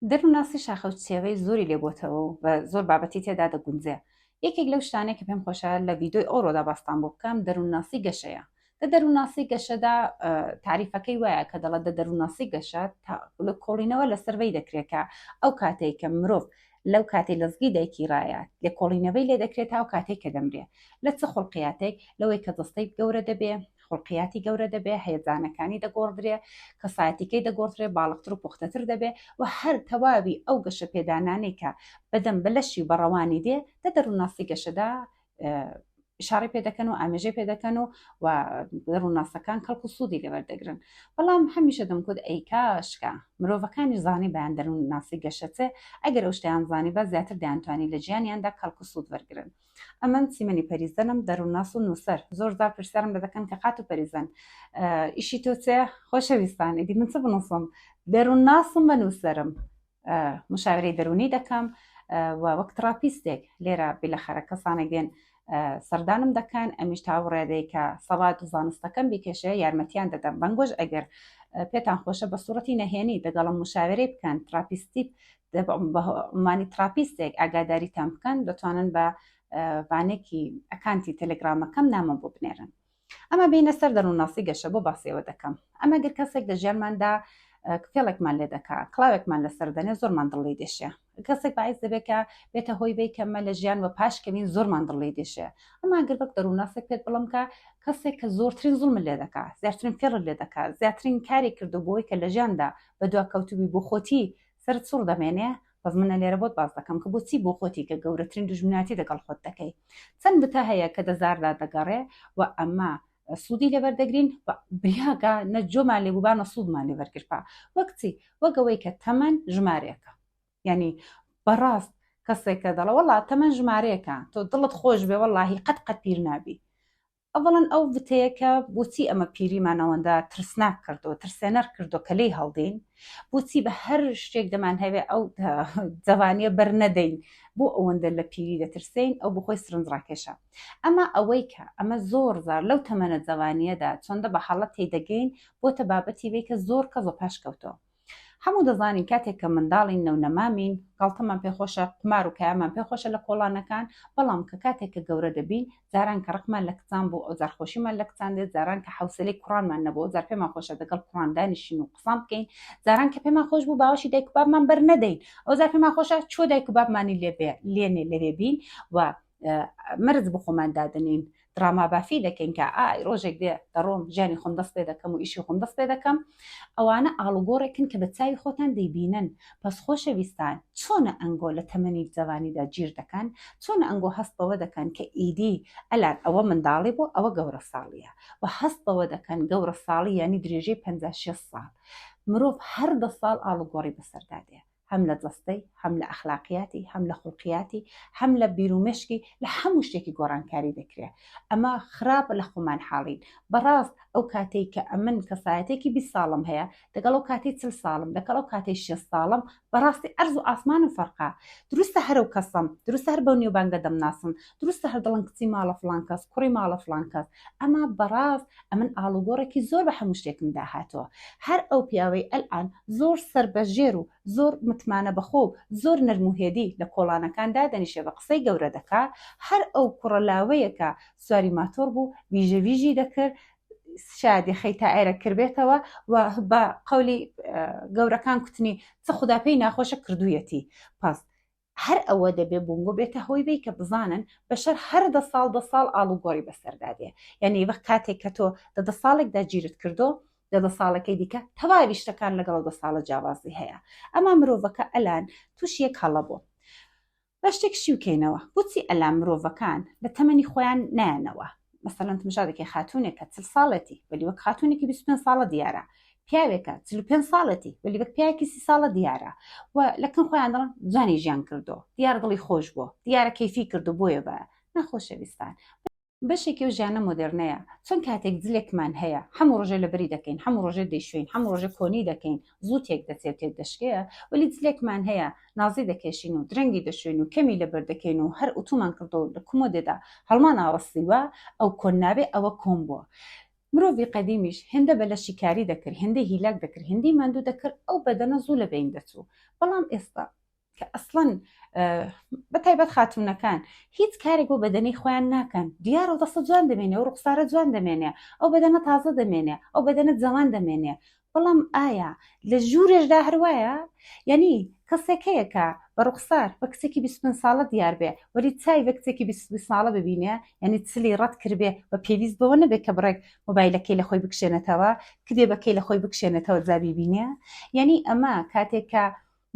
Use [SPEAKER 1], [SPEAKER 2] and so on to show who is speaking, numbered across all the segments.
[SPEAKER 1] دەروونناسی شاخە و چێوەی زۆری لێ بۆتەوە و بە زۆر بابەتی تێدا دەگونجێ. یەکێک لەو شتانەی کە پێم خۆشە لە ڤیدۆی ئەوڕۆدا باستان بۆ بکەم دەروونناسی گەشەیە. دە دەروونناسی گەشەدا تاریفەکەی وایە کە دەڵە دە دەروونناسی گەشە لە کۆڵینەوە لەسەر وی دەکرێت کە ئەو کاتێک کە مرۆڤ لەو کاتی لەزگی دایکی ڕایە لە کۆڵینەوەی لێ دەکرێت تا و کاتێک کە دەمرێ لە چ خڵقیاتێک لەوەی کە دەستەی گەورە دەبێ خولقیاتی گەورە دەبێ هەیەجانەکانی دەگۆڕدرێ کەسایەتیکەی دەگۆڕدرێ باڵقتر و پوختەتر دەبێ و هەر تەواوی ئەو گەشە پێدانانەی کە بەدەم بەلەشی بەڕەوانی دێ دە دەروونناسی گەشەدا شاری پێ دەکەن و ئامێژەی پێ دەکەن و و ڕووناسەکان کەڵکو سوودی لەبەر دەگرن بەڵام هەمیشە دەمکوت ئەیکاشکە مرۆڤەکانی زانی بەیان دەروون ناسی گەشەچێ ئەگەر ئەو شتیان زانی بە زیاتر دەیانتوانی لە ژیانیاندا کەڵکو سوود وەرگن ئەمن سیمەنی پەریزەنم دەرونناس و نووسەر زۆر زار پرسیارم لە دەکەن کە قات و پەریزەن ئیشی تۆ چێ خۆشەویستان ئیدی من چ بنووسم دەرونناسم بە نووسەرم مشاورەی دەرونی دەکەم وەک تراپیستێک لێرە بیلەخەرە کەسانێک دێن سەردانم دەکەن ئەمیش تاوڕێدەی کە سەڵات و زانستەکەم بیکێشێ یارمەتیان دەدەم بەنگۆش ئەگەر پێتان خۆشە بە سوڕەتی نەهێنی دەگەڵم مشاوەرەی بکەن تراپیستی بە عمانی تراپیستێک ئاگاداریتان بکەن دەتوانن بە بانێکی ئەکانتی تەلگرامەکەم نامە بۆ بنێرن ئەمە بینە سەر دەروونناسی گەشە بۆ باسیەوە دەکەم ئەمە گر کەسێک لە ژیانماندا فێڵێکمان لێ دەکا کلااوێکمان لەسەر دەنێ زۆرمان دڵی دێشێ کەسێک باعیس دەبێکە بێتە هۆی بی کەمە لە ژیان وە پاش کەمین زۆرمان دڵی دێشێ ئەما گەر بەک دەروونناسێک پێت بڵم کە کەسێک کە زۆرترین زڵم لێ دەکا زیاترین فێڵ لێ دەکات زیاترین کاری کردو بۆی کە لە ژیاندا بە دوا کەوتبی بۆ خۆتی سەرت سوڕ دەمێنێ بەس منە لێرە بۆت باس دەکەم کە بۆچی بۆ خۆتی کە گەورەترین دوژمنایەتی دەگەڵ خۆت دەکەی چەند بتە هەیە کە دەزاردا دەگەڕێ و ئەمە سوودی لەبەر دەگرین بریاگە نە جۆمان لێ بووبانە سوودمان لێ بەرگرپا وەک چی وەگەوەی کە تەمەن ژمارەیەەکە یعنی بەڕاست کەسێکە دەڵە وڵات تەمەن ژمارەیەەکە تۆ دڵت خۆش بێ وەڵی قەت قەت پیر نابی ئەوەڵەن ئەو وتەیە کە بۆچی ئەمە پیریمان ئەوەندە ترسناک کردو ترسێنەر کردو کە لێی هەڵدین بۆچی بە هەر شتێک دەمان هەوێ ئەو جەوانیە بەر نەدەین بۆ ئەوەندە لە پیری دەترسین ئەو بخۆی سرنج ڕاکێشە ئەمە ئەوەی کە ئەمە زۆر زار لەو تەمەنە جەوانیەدا چۆندە بە حاڵەت تێدەگەین بۆتە بابەتی وی کە زۆر کەزۆ پاشکەوتۆ هەموو دەزانین کاتێک کە منداڵین نەونەمامین گاڵتەمان پێ خۆشە قمار و کایمان پێ خۆشە لە کۆڵانەکان بەڵام کە کاتێک کە گەورە دەبین زاران کە ڕقمان لە کچان بۆ ئەو زارخۆشیمان لە کچان دێت زاران کە حوسلەی کوڕانمان نەبوو زار پێمان خۆشە دەگەڵ کوڕان دانیشین و قسان بکەین زاران کە پێمان خۆش بوو باوەشی دایک بابمان بەر نەدەین ئەو زار پێمان خۆشە چۆ دایک بابمانی لێ لێنێ لەوێ بین و مەرج بۆ خۆمان دادنین دراما بافی دەکەین کە ئای ڕۆژێک دێ دەڕۆم ژیانی خۆم دەست پێ دەکەم و ئیشی خۆم دەست پێ دەکەم ئەوانە ئاڵوگۆڕێکن کە بە چاوی خۆتان دەیبینن پس خۆشەویستان چۆنە ئەنگۆ لە تەمەنی جەوانیدا گیر دەکەن چۆنە ئەنگۆ هەست بەوە دەکەن کە ئیدی ئەلان ئەوە منداڵی بۆ ئەوە گەورە ساڵیە و هەست بەوە دەکەن گەورە ساڵی ینی درێژەی 56 ساڵ مرۆڤ هەر دە ساڵ ئاڵوگۆڕی بەسەردادێ هەم لە جەستەی، هەم لە ئەخلاقیاتی، هەم لە خوڵقیاتی، هەم لە بیرومێشکی، لە هەموو شتێکی گۆڕانکاری دەکرێ. ئەمە خراپ لە خۆمان حاڵین. بەڕاست ئەو کاتەی کە ئەمن کەسایەتێکی بیست ساڵم هەیە، دەگەڵ ئەو کاتەی چل ساڵم، دەگەڵ ئەو کاتەی شێست ساڵم، بەڕاستی عەرز و ئاسمانم فەرقە. دروستە هەرەو کەسم، دروستە هەر بەو نێوبانگە دەمناسن، دروستە هەر دەڵێن کچی ماڵە فڵان کەس، کوڕی ماڵە فڵان کەس، ئەما بەڕاست ئەمن ئاڵوگۆڕێکی زۆر بە هەموو شتێکم دا هاتووە. هەر ئەو پیاوەی ئەلئان زۆر سەربەژێر و زۆر متمانە بەخۆ و زۆر نەرم و هێدی لە کۆڵانەکان دادەنیشێ بە قسەی گەورە دەکا، هەر ئەو کوڕە لاوەیە کە سواری ماتۆڕ بوو ویژە ویژی دەکرد، شایەد یەخەی تائێرە کربێتەوە و بە قەولی گەورەکان کوتنی چ خودا پێی ناخۆشە کردوویەتی پەست. هەر ئەوە دەبێ بۆنگۆ بێتە هۆی بەی کە بزانن بەشەر هەر دە ساڵ دە ساڵ ئاڵوگۆڕی بەسەردا دێ یانی وەک کاتێک کە تۆ دە دە ساڵێکدا جیرت کردۆ دە دە ساڵەکەی دیکە تەواوی شتەکان لەگەڵ دە ساڵە جیاوازی هەیە ئەما مرۆڤەکە ئەلان تووشی یەک هەڵە بۆ با شتێک شیوکەینەوە بۆچی ئەلا مرۆڤەکان لە تەمەنی خۆیان نایەنەوە مەسەلەن تمشا دەکەی خاتونێکە چل ساڵێتی وەلی وەک خاتونێکی 25 ساڵە دیارە پیاوێکە چل پێ ساڵەتی وەلی وەک پیاکی سی ساڵە دیارە و لەکن خۆیان دەڵن جانی ژیان کردو دیار دڵی خۆش بووە دیارە کەفی کردو بۆیە بە نەخۆشەویستان بەشێکی و ژیانە مۆدررنەیە چەند کاتێک زلێکمان هەیە هەموو ڕژێ لەبری دەکەین هەموو ڕژێ دەیشوین هەموو ڕژێ کۆنی دەکەین زوو تێک دەچێ و تێک دەشکێ، وەلی جلێکمان هەیە نازی دەکێشین و درەنگی دەشۆین و کەمی لەبەر دەکەین و هەر ئوتومان کردوە و لە کمۆدێدا هەڵمان ئاوەستیوە، ئەو کۆن نابێ ئەوە کۆن بوە. مرۆڤی قەدیمیش هێندە بە لەشی کاری دەکرد، هێندەی هیلاک دەکرد، هێندەی ماندوو دەکرد، ئەو بەدەنە زوو لە بەین دەچوو، بەڵام ئێستا کە ئەسڵەن بە تایبەت خاتونەکان هیچ کارێک بۆ بەدەنی خۆیان ناکەن دیار و دەسە جوان دەمێنێ و ڕوخسارە جوان دەمێنێ ئەو بەدەنە تازە دەمێنێ ئەو بەدەنە جوان دەمێنێ بەڵام ئایا لە ژوورێشدا هەروایە یعنی کەسێکەیەکە بە ڕوخسار بە کچێکی 25 ساڵە دیار بێ وەری چای بە کچێکی 20 ساڵە ببینێ یعنی چلی ڕەت کردێ بە پێویست بەوە نەبێت کە بڕێک مۆبایلەکەی لە خۆی بکشێنێتەوە کدێبەکەی لە خۆی بکشێنێتەوە جابی بینێ یعنی ئەمە کاتێکە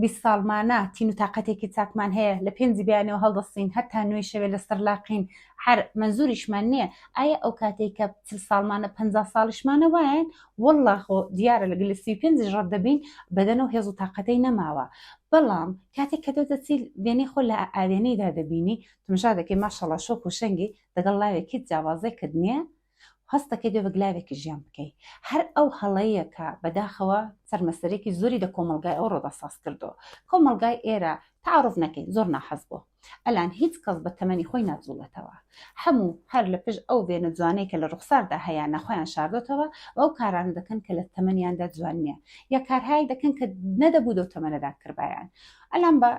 [SPEAKER 1] بیست ساڵمانە تین و تاقەتێکی چاکمان هەیە لە پێنجی بەیانەوە هەڵدەستین هەتا نوێی شەوێ لەسەر لاقین هەر مەنزوریشمان نییە ئایا ئەو کاتێک کە چل ساڵمانە پ ساڵیشمانە وایەن والله خۆ دیارە لە گەلی سی پێنجیش ڕەت دەبین بەدەن و هێز و تاقەتەی نەماوە بەڵام کاتێک کە دەو دەچیل وێنەی خۆ لە ئاوێنەیدا دەبینی تمژا دەکەی ماشەڵا شۆک و شەنگی دەگەڵ لاوێک هیچ جیاوازێکت نییە هەست دەکەی بێ بەگلاوێکی ژیان بکەی هەر ئەو هەڵەیە کە بەداخەوە سەرمەسەرێکی زۆری لە کۆمەڵگای ئەو ڕۆدا ساز کردۆ کۆمەڵگای ئێرە تعرف نەکەین زۆر ناحەز بۆ ئەلان هیچ کەس بە تەمەنی خۆی ناجوڵێتەوە هەموو هەر لە پێش ئەو وێنە جوانەی کە لە ڕوخساردا هەیە نەخۆیان شاردۆتەوە و ئەو کارانە دەکەن کە لە تەمەنیاندا جوان نییە یا کارهایی دەکەن کە نەدەبوو دەو تەمەنەدا کردبایان ئەلان بە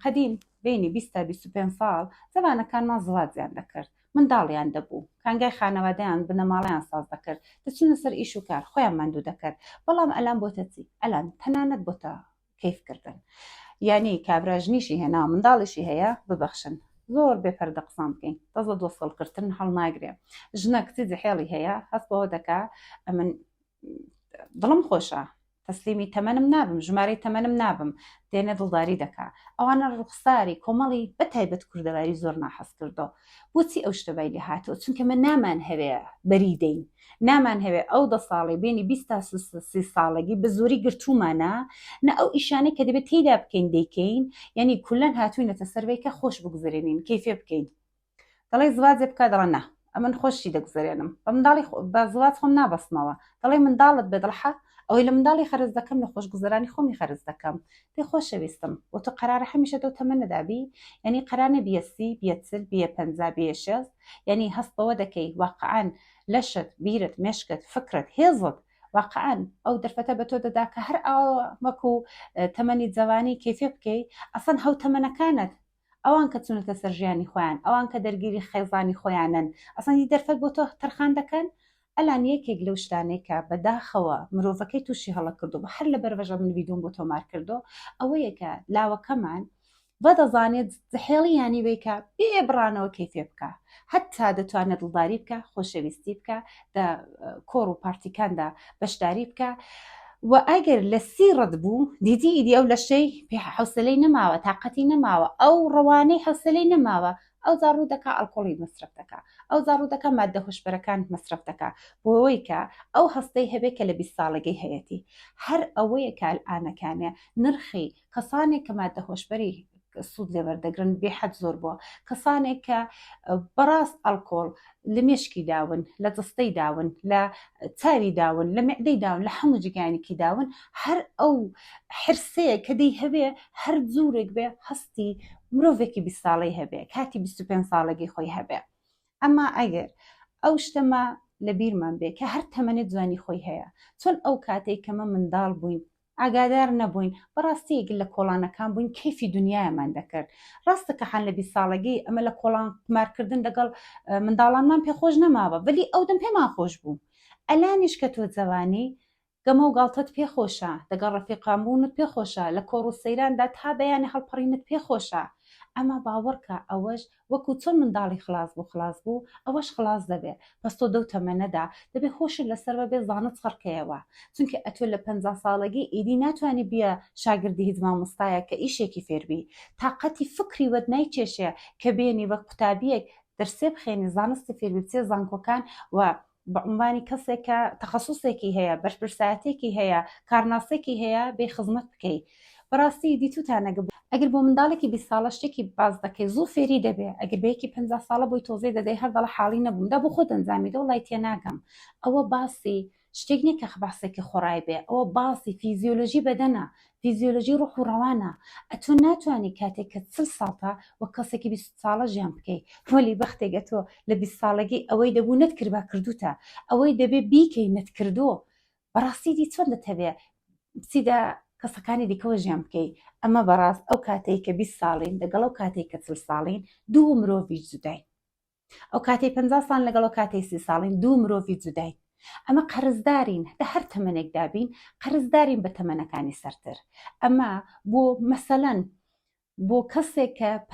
[SPEAKER 1] قەدیم بینی بیست تا بیست و پێنج ساڵ زمانەکانمان زڵاتیان دەکرد منداڵیان دەبوو کانگای خانەوادەیان بنەماڵەیان ساز دەکرد دەچونە سەر ئیش و کار خۆیان ماندوو دەکرد بەڵام ئەلان بۆتە چی ئەلان تەنانەت بۆتە کەیفکردن یعنی کابرا ژنیشی هێنا منداڵیشی هەیە ببەخشن زۆر بێپەردە قسان بکەین دەست لە دۆسەڵکردن هەڵناگرێ ژنە کچی جحێڵی هەیە هەست بەوە دەکا ئەمن دڵم خۆشە تەسلیمی تەمەنم نابم ژمارەی تەمەنم نابم دێنە دڵداری دەکا ئەوانە ڕوخساری کۆمەڵی بە تایبەت کوردەواری زۆر ناحەز کردو بۆچی ئەو شتەبای لێ هاتەوە چونکە من نامان هەوێ بەری دەین نامان هەوێ ئەو دە ساڵی بینی بیست تا سی ساڵگی بە زۆری گرتومانە نە ئەو ئیشانەی کە دەبێت تێدا بکەین دەیکەین یعنی کولەن هاتوینەتە سەرەوەی کە خۆش بگوزرێنین کەیفێ بکەین دەڵێی زواجێ بکە دەڵێ نا ئەمن خۆشی دەگوزەرێنم بە منداڵی بە زواج خۆم نابەستمەوە دەڵێ منداڵت بێ دڵحە ئەوەی لە منداڵی خەرز دەکەم لە خۆشگوزەرانی خۆمی خەرز دەکەم پێ خۆشەویستم و تو قەرارە هەمیشە دەو تەمەنەدابی یعنی قەرانە بیە سی بیە چل بیە پەنجا بیە شێز یعنی هەست بەوە دەکەی واقعان لەشت بیرت مێشکت فکرت هێزت واقعان ئەو دەرفەتە بە تۆ دەدا کە هەر ئاوەکو تەمەنی جەوانی کەفێ بکەی ئەسەن هەو تەمەنەکانت ئەوان کە چونەتە سەر ژیانی خۆیان ئەوان کە دەرگیری خێزانی خۆیانن ئەسڵەن هیچ دەرفەت بۆ تۆ تەرخان دەکەن ئەلان یەکێک لەو شتانەی کە بەداخەوە مرۆڤەکەی تووشی هەڵە کردووە هەر لە بەرڤەژە من ڤیدۆم بۆ تۆمار کردو ئەوەیە کە لاوەکەمان و دەزانێت هێڵی یانی وەیکە بێ بڕانەوە کەیفێ بکە هەتا دەتوانێت دڵداری بکە خۆشەویستی بکە دە کۆڕ و پارتیکاندا بەشداری بکە و ئەگەر لە سی ڕەت بوو دیدی ئیدی ئەو لەشەی پێ حوسلەی نەماوە تااقەتی نەماوە ئەو ڕەوانەی حوسلەی نەماوە ئەو زاڕوو دەکا ئەلقۆڵی مەسرف دەکە ئەو زاڕوو دەکە مادە هۆشبەرەکان مەسرف دەکە بۆەوەی کە ئەو هەستەی هەبێت کە لە بیست ساڵگەی هەیەی هەر ئەوەیە کال ئانەکانە نرخی کەسانێک کە ماددە هۆشبەری سوود لێ وەردەگرن بێحەد زۆر بووە کەسانێک کە بەڕاست ئەلکۆڵ لە مێشکی داون لە جستەی داون لە چاوی داون لە معدەی داون لە هەموو جگانێکی داون هەر ئەو حرسەیە کە دەی هەوێ هەر جورێک بێ هەستی مرۆڤێکی بی ساڵی هەبێ کاتی 25 ساڵێکی خۆی هەبێ ئەما ئەگەر ئەو شتەما لە بیرمان بێ کە هەر تەمەنێت جوانی خۆی هەیە چۆن ئەو کاتێک کەمە منداڵ بووین ئاگادار نەبووین بەڕاستی گل لە کۆڵانەکان بووین کەیفی دنیایەمان دەکرد ڕاستە کە حەن لە بیست ساڵەگەی ئەمە لە کۆڵان قومارکردن دەگەڵ منداڵانمان پێخۆش نەماوە بەلی ئەو دەم پێمان خۆش بوو ئەلانیش کە تۆ جەوانی گەمە و گاڵتەت پێخۆشە دەگەڵ ڕەفیقان بوونت پێخۆشە لە کۆڕ و سەیراندا تا بەیانە هەڵپەڕینت پێخۆشە ئەما باوەڕکە ئەوەش وەکو چۆن منداڵی خڵاس بوو خڵاس بوو ئەوەش خڵاس دەبێ بەس تۆ دەو تەمەنەدا دەبێ هۆشت لەسەر وەبێ زانت خڕکەیەوە چونکە ئەتۆ لە پەنجا ساڵەگی ئیدی ناتوانی بیە شاگردی هیچ مامۆستایەک کە ئیشێکی فێر بی تاقەتی فکری وەت نایکێشێ کە بێنی وەک قوتابیەک دەرسێ بخێنی زانستی فێر بی بچێ زانکۆکان و بە عونوانی کەسێک کە تەخەسوسێکی هەیە، بەرپرسایەتێکی هەیە، کارناسێکی هەیە بێی خزمەت بکەی. بەڕاستی دیتوتان نەگب. ئەگر بۆ منداڵێکی بیست ساڵە شتێکی باس دەکەی زوو فێری دەبێ ئەگر بە یەکی پەنجا ساڵە بۆی تۆزێ دەدەی هەر دەڵێ حاڵی نەبووم دا بۆ خۆت ئەنجامی دە وەڵای تێناگەم ئەوە باسی شتێک نیە کە خباسێکی خۆڕای بێ ئەوە باسی فیزیۆلۆژی بەدەنە فیزیۆلۆجی ڕۆح و ڕەوانە ئەتۆ ناتوانی کاتێک کە چل ساڵتە وەک کەسێکی بیست ساڵە ژیان بکەی وەلی بەختێک ئەتۆ لە بیست ساڵەگی ئەوەی دەبوو نەتکردبا کردوتە ئەوەی دەبێ بیکەی نەتکردۆ بەڕاستی دی چۆن دەتەوێ بچیدە کەسەکانی دیکەوە ژیان بکەی ئەمە بەڕاست ئەو کاتەی کە بیست ساڵین دەگەڵ ئەو کاتێک کە چل ساڵین دوو مرۆڤی جوداین. ئەو کاتەی پ ساڵ لەگەڵەوە کاتەی سی ساڵین دوو مرۆڤی جوداین ئەمە قەرزدارین لە هەر تەمەێکدا بین قەرزدارین بە تەمەەکانی سەرتر ئەمە بۆ مەسەەن بۆ کەسێک کە پ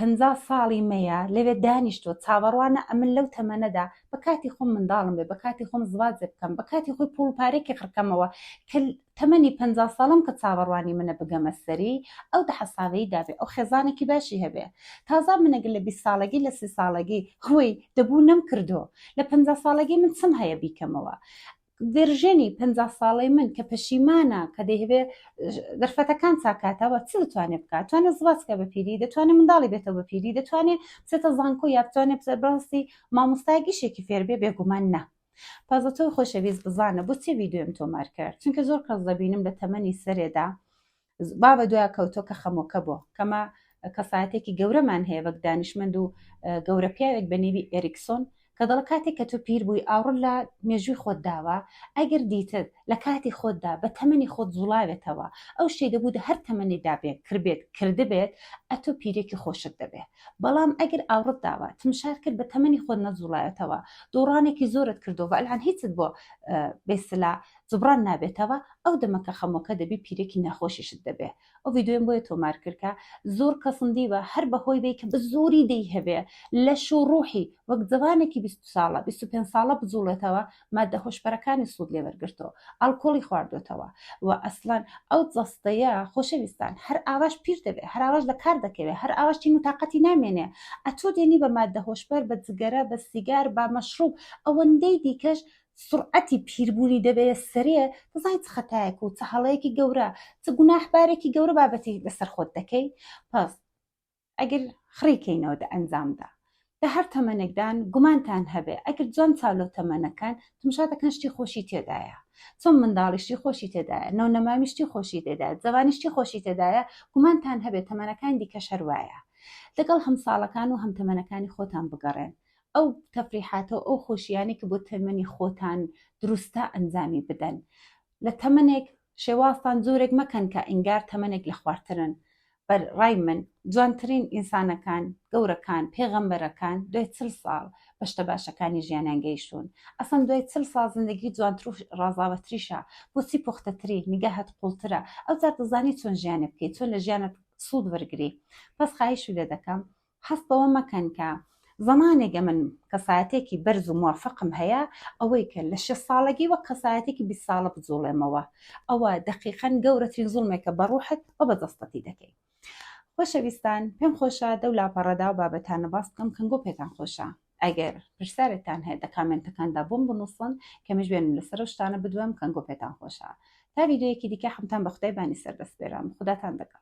[SPEAKER 1] ساڵی مەیە لەوێ دانیشتوە چاوەڕوانە ئەمن لەو تەمەەدا بە کاتی خۆم منداڵم بێ بە کاتی خۆم زوازێ بکەم بە کاتی خۆی پۆڵپارێکی خڕکەمەوە کە تەمەنی پەنجا ساڵم کە چاوەڕوانی منە بگەمە سەری ئەو دەحەساوەی دابێ ئەو خێزانێکی باشی هەبێ تازە من ئەگەر لە بیست ساڵەگی لە سی ساڵەگی هوی دەبوو نەمکردۆ لە پەنجا ساڵەگی من چم هەیە بیکەمەوە ڤێرژێنی پەنجا ساڵەی من کە پەشیمانە کە دەیهەوێ دەرفەتەکان چاکاتەوە چ دەتوانێت بکات توانێت زوازکە بە پیری دەتوانێت منداڵی بێتەوە بە پیری دەتوانێت بچێتە زانکۆ یا بتوانێت بەڕاستی مامۆستایگیشێکی فێربێ بێگومان نا تازە تۆی خۆشەویست بزانە بۆ چێ ڤیدۆیم تۆمار کرد چونکە زۆر کەس دەبینم لە تەمەنی سەرێدا با بە دوای کەوتۆ کە خەمۆکە بۆ کەمە کەسایەتێکی گەورەمان هەیە وەک دانیشمەند و گەورە پیاوێک بە نێوی ئێریکسۆن کە دەڵە کاتێک کە تۆ پیر بووی ئاوڕ لە مێژووی خۆت داوە ئەگەر دیتت لە کاتی خۆتدا بە تەمەنی خۆت زوڵاوێتەوە ئەو شەی دەبوو هەر تەمەنێدا بێت کردبێت کردبێت ئەتۆ پیرێکی خۆشت دەبێت بەڵام ئەگەر ئاوڕت داوە تمشار کرد بە تەمەنی خۆت نەجوڵایەتەوە دۆڕانێکی زۆرت کردەوە ئەلان هیچت بۆ بێسلا جبران نابێتەوە ئەو دەمەکە خەمۆکە دەبی پیرێکی ناخۆشیشت دەبێ ئەو ویددیوم بۆیە تۆمار کردکە زۆر کەسم دیوە هەر بەهۆی بێ کە بە زۆری دەی هەبێ لە شو ڕوحی وەک جوانێکی 20 ساڵە 25 ساڵە بجوڵێتەوە ماددە هۆشبەرەکانی سوود لێ وەرگرتەوە، ئاڵکۆڵی خواردۆتەوە و ئەسڵەن ئەو جەستەیە خۆشەویستان هەر ئاواش پیش دەبێ، هەر ئاواش لە کار دەکەوێ، هەر ئاواش تین و تاقەتی نامێنێ، ئەتۆ دێنی بە ماددە هۆشبەر، بە جگەرە، بە سیگار، با مەشڕووب، ئەوەندەی دیکەش سوڕعەتی پیربوونی دەبەیە سەرێ، دەزانی چ خەتایەک و چ هەڵەیەکی گەورە، چ گوناحبارێکی گەورە بابەتی لەسەر خۆت دەکەی؟ پس. ئەگر خڕی کەینەوە دە ئەنجامدا لە هەر تەمەنێکدان گومانتان هەبێ ئەگر جوان چاولۆ تەمەنەکەن تمشا دەکەن شتی خۆشی تێدایە چۆن منداڵیشتی خۆشی تێدایە نەو نەمامیشتی خۆشی تێدا جەوانیشتی خۆشی تێدایە گومانتان هەبێ تەمەنەکان دیکە شەروایە لەگەڵ هەم ساڵەکان و هەم تەمەنەکانی خۆتان بگەڕێن ئەو تەفریحاتەوە ئەو خۆشیانی کە بۆ تەمەنی خۆتان دروستە ئەنجامی بدەن لە تەمەنێک شێوازتان جۆرێک مەکەن کە ئینگار تەمەنێک لە خوارترن بەر ڕای من جوانترین ئینسانەکان گەورەکان پێغەمبەرەکان دوای چل ساڵ بەشتە باشەکانی ژیانیان گەیشتون ئەسەن دوای چل ساڵ زندگی جوانتر و ڕازاوەتریشە بۆچی پوختەتری نیگەهت قوڵترە ئەوجا دەزانی چۆن ژیانێ بکەیت چۆن لە ژیانت سوود وەرگری بەس خایشی لێ دەکەم هەست بەوە مەکەن کە زمانێک ئەمن کەسایەتێکی بەرز و موفقم هەیە ئەوەی کە لە شە ساڵگی وە کەسایەتێکی بی ساڵە بجوڵێمەوە ئەوە دەقیقەن گەورەترین زوڵمێکە بە ڕوحت و بە دەستەتی دەکەی خۆشەویستان پێم خۆشە دەو لاپەڕەدا و بابەتانە باس بکەم کەنگۆ پێتان خۆشە ئەگەر پرسیارێکتان هەیە دە کامنتەکاندا بۆم بنووسن کەمش بێن لەسەر شتانە بدوێم کەنگۆ پێتان خۆشە تا ویددیوەکی دیکە حمتان بە خدای بانی سەردەستێرم خداتان دەگەڵ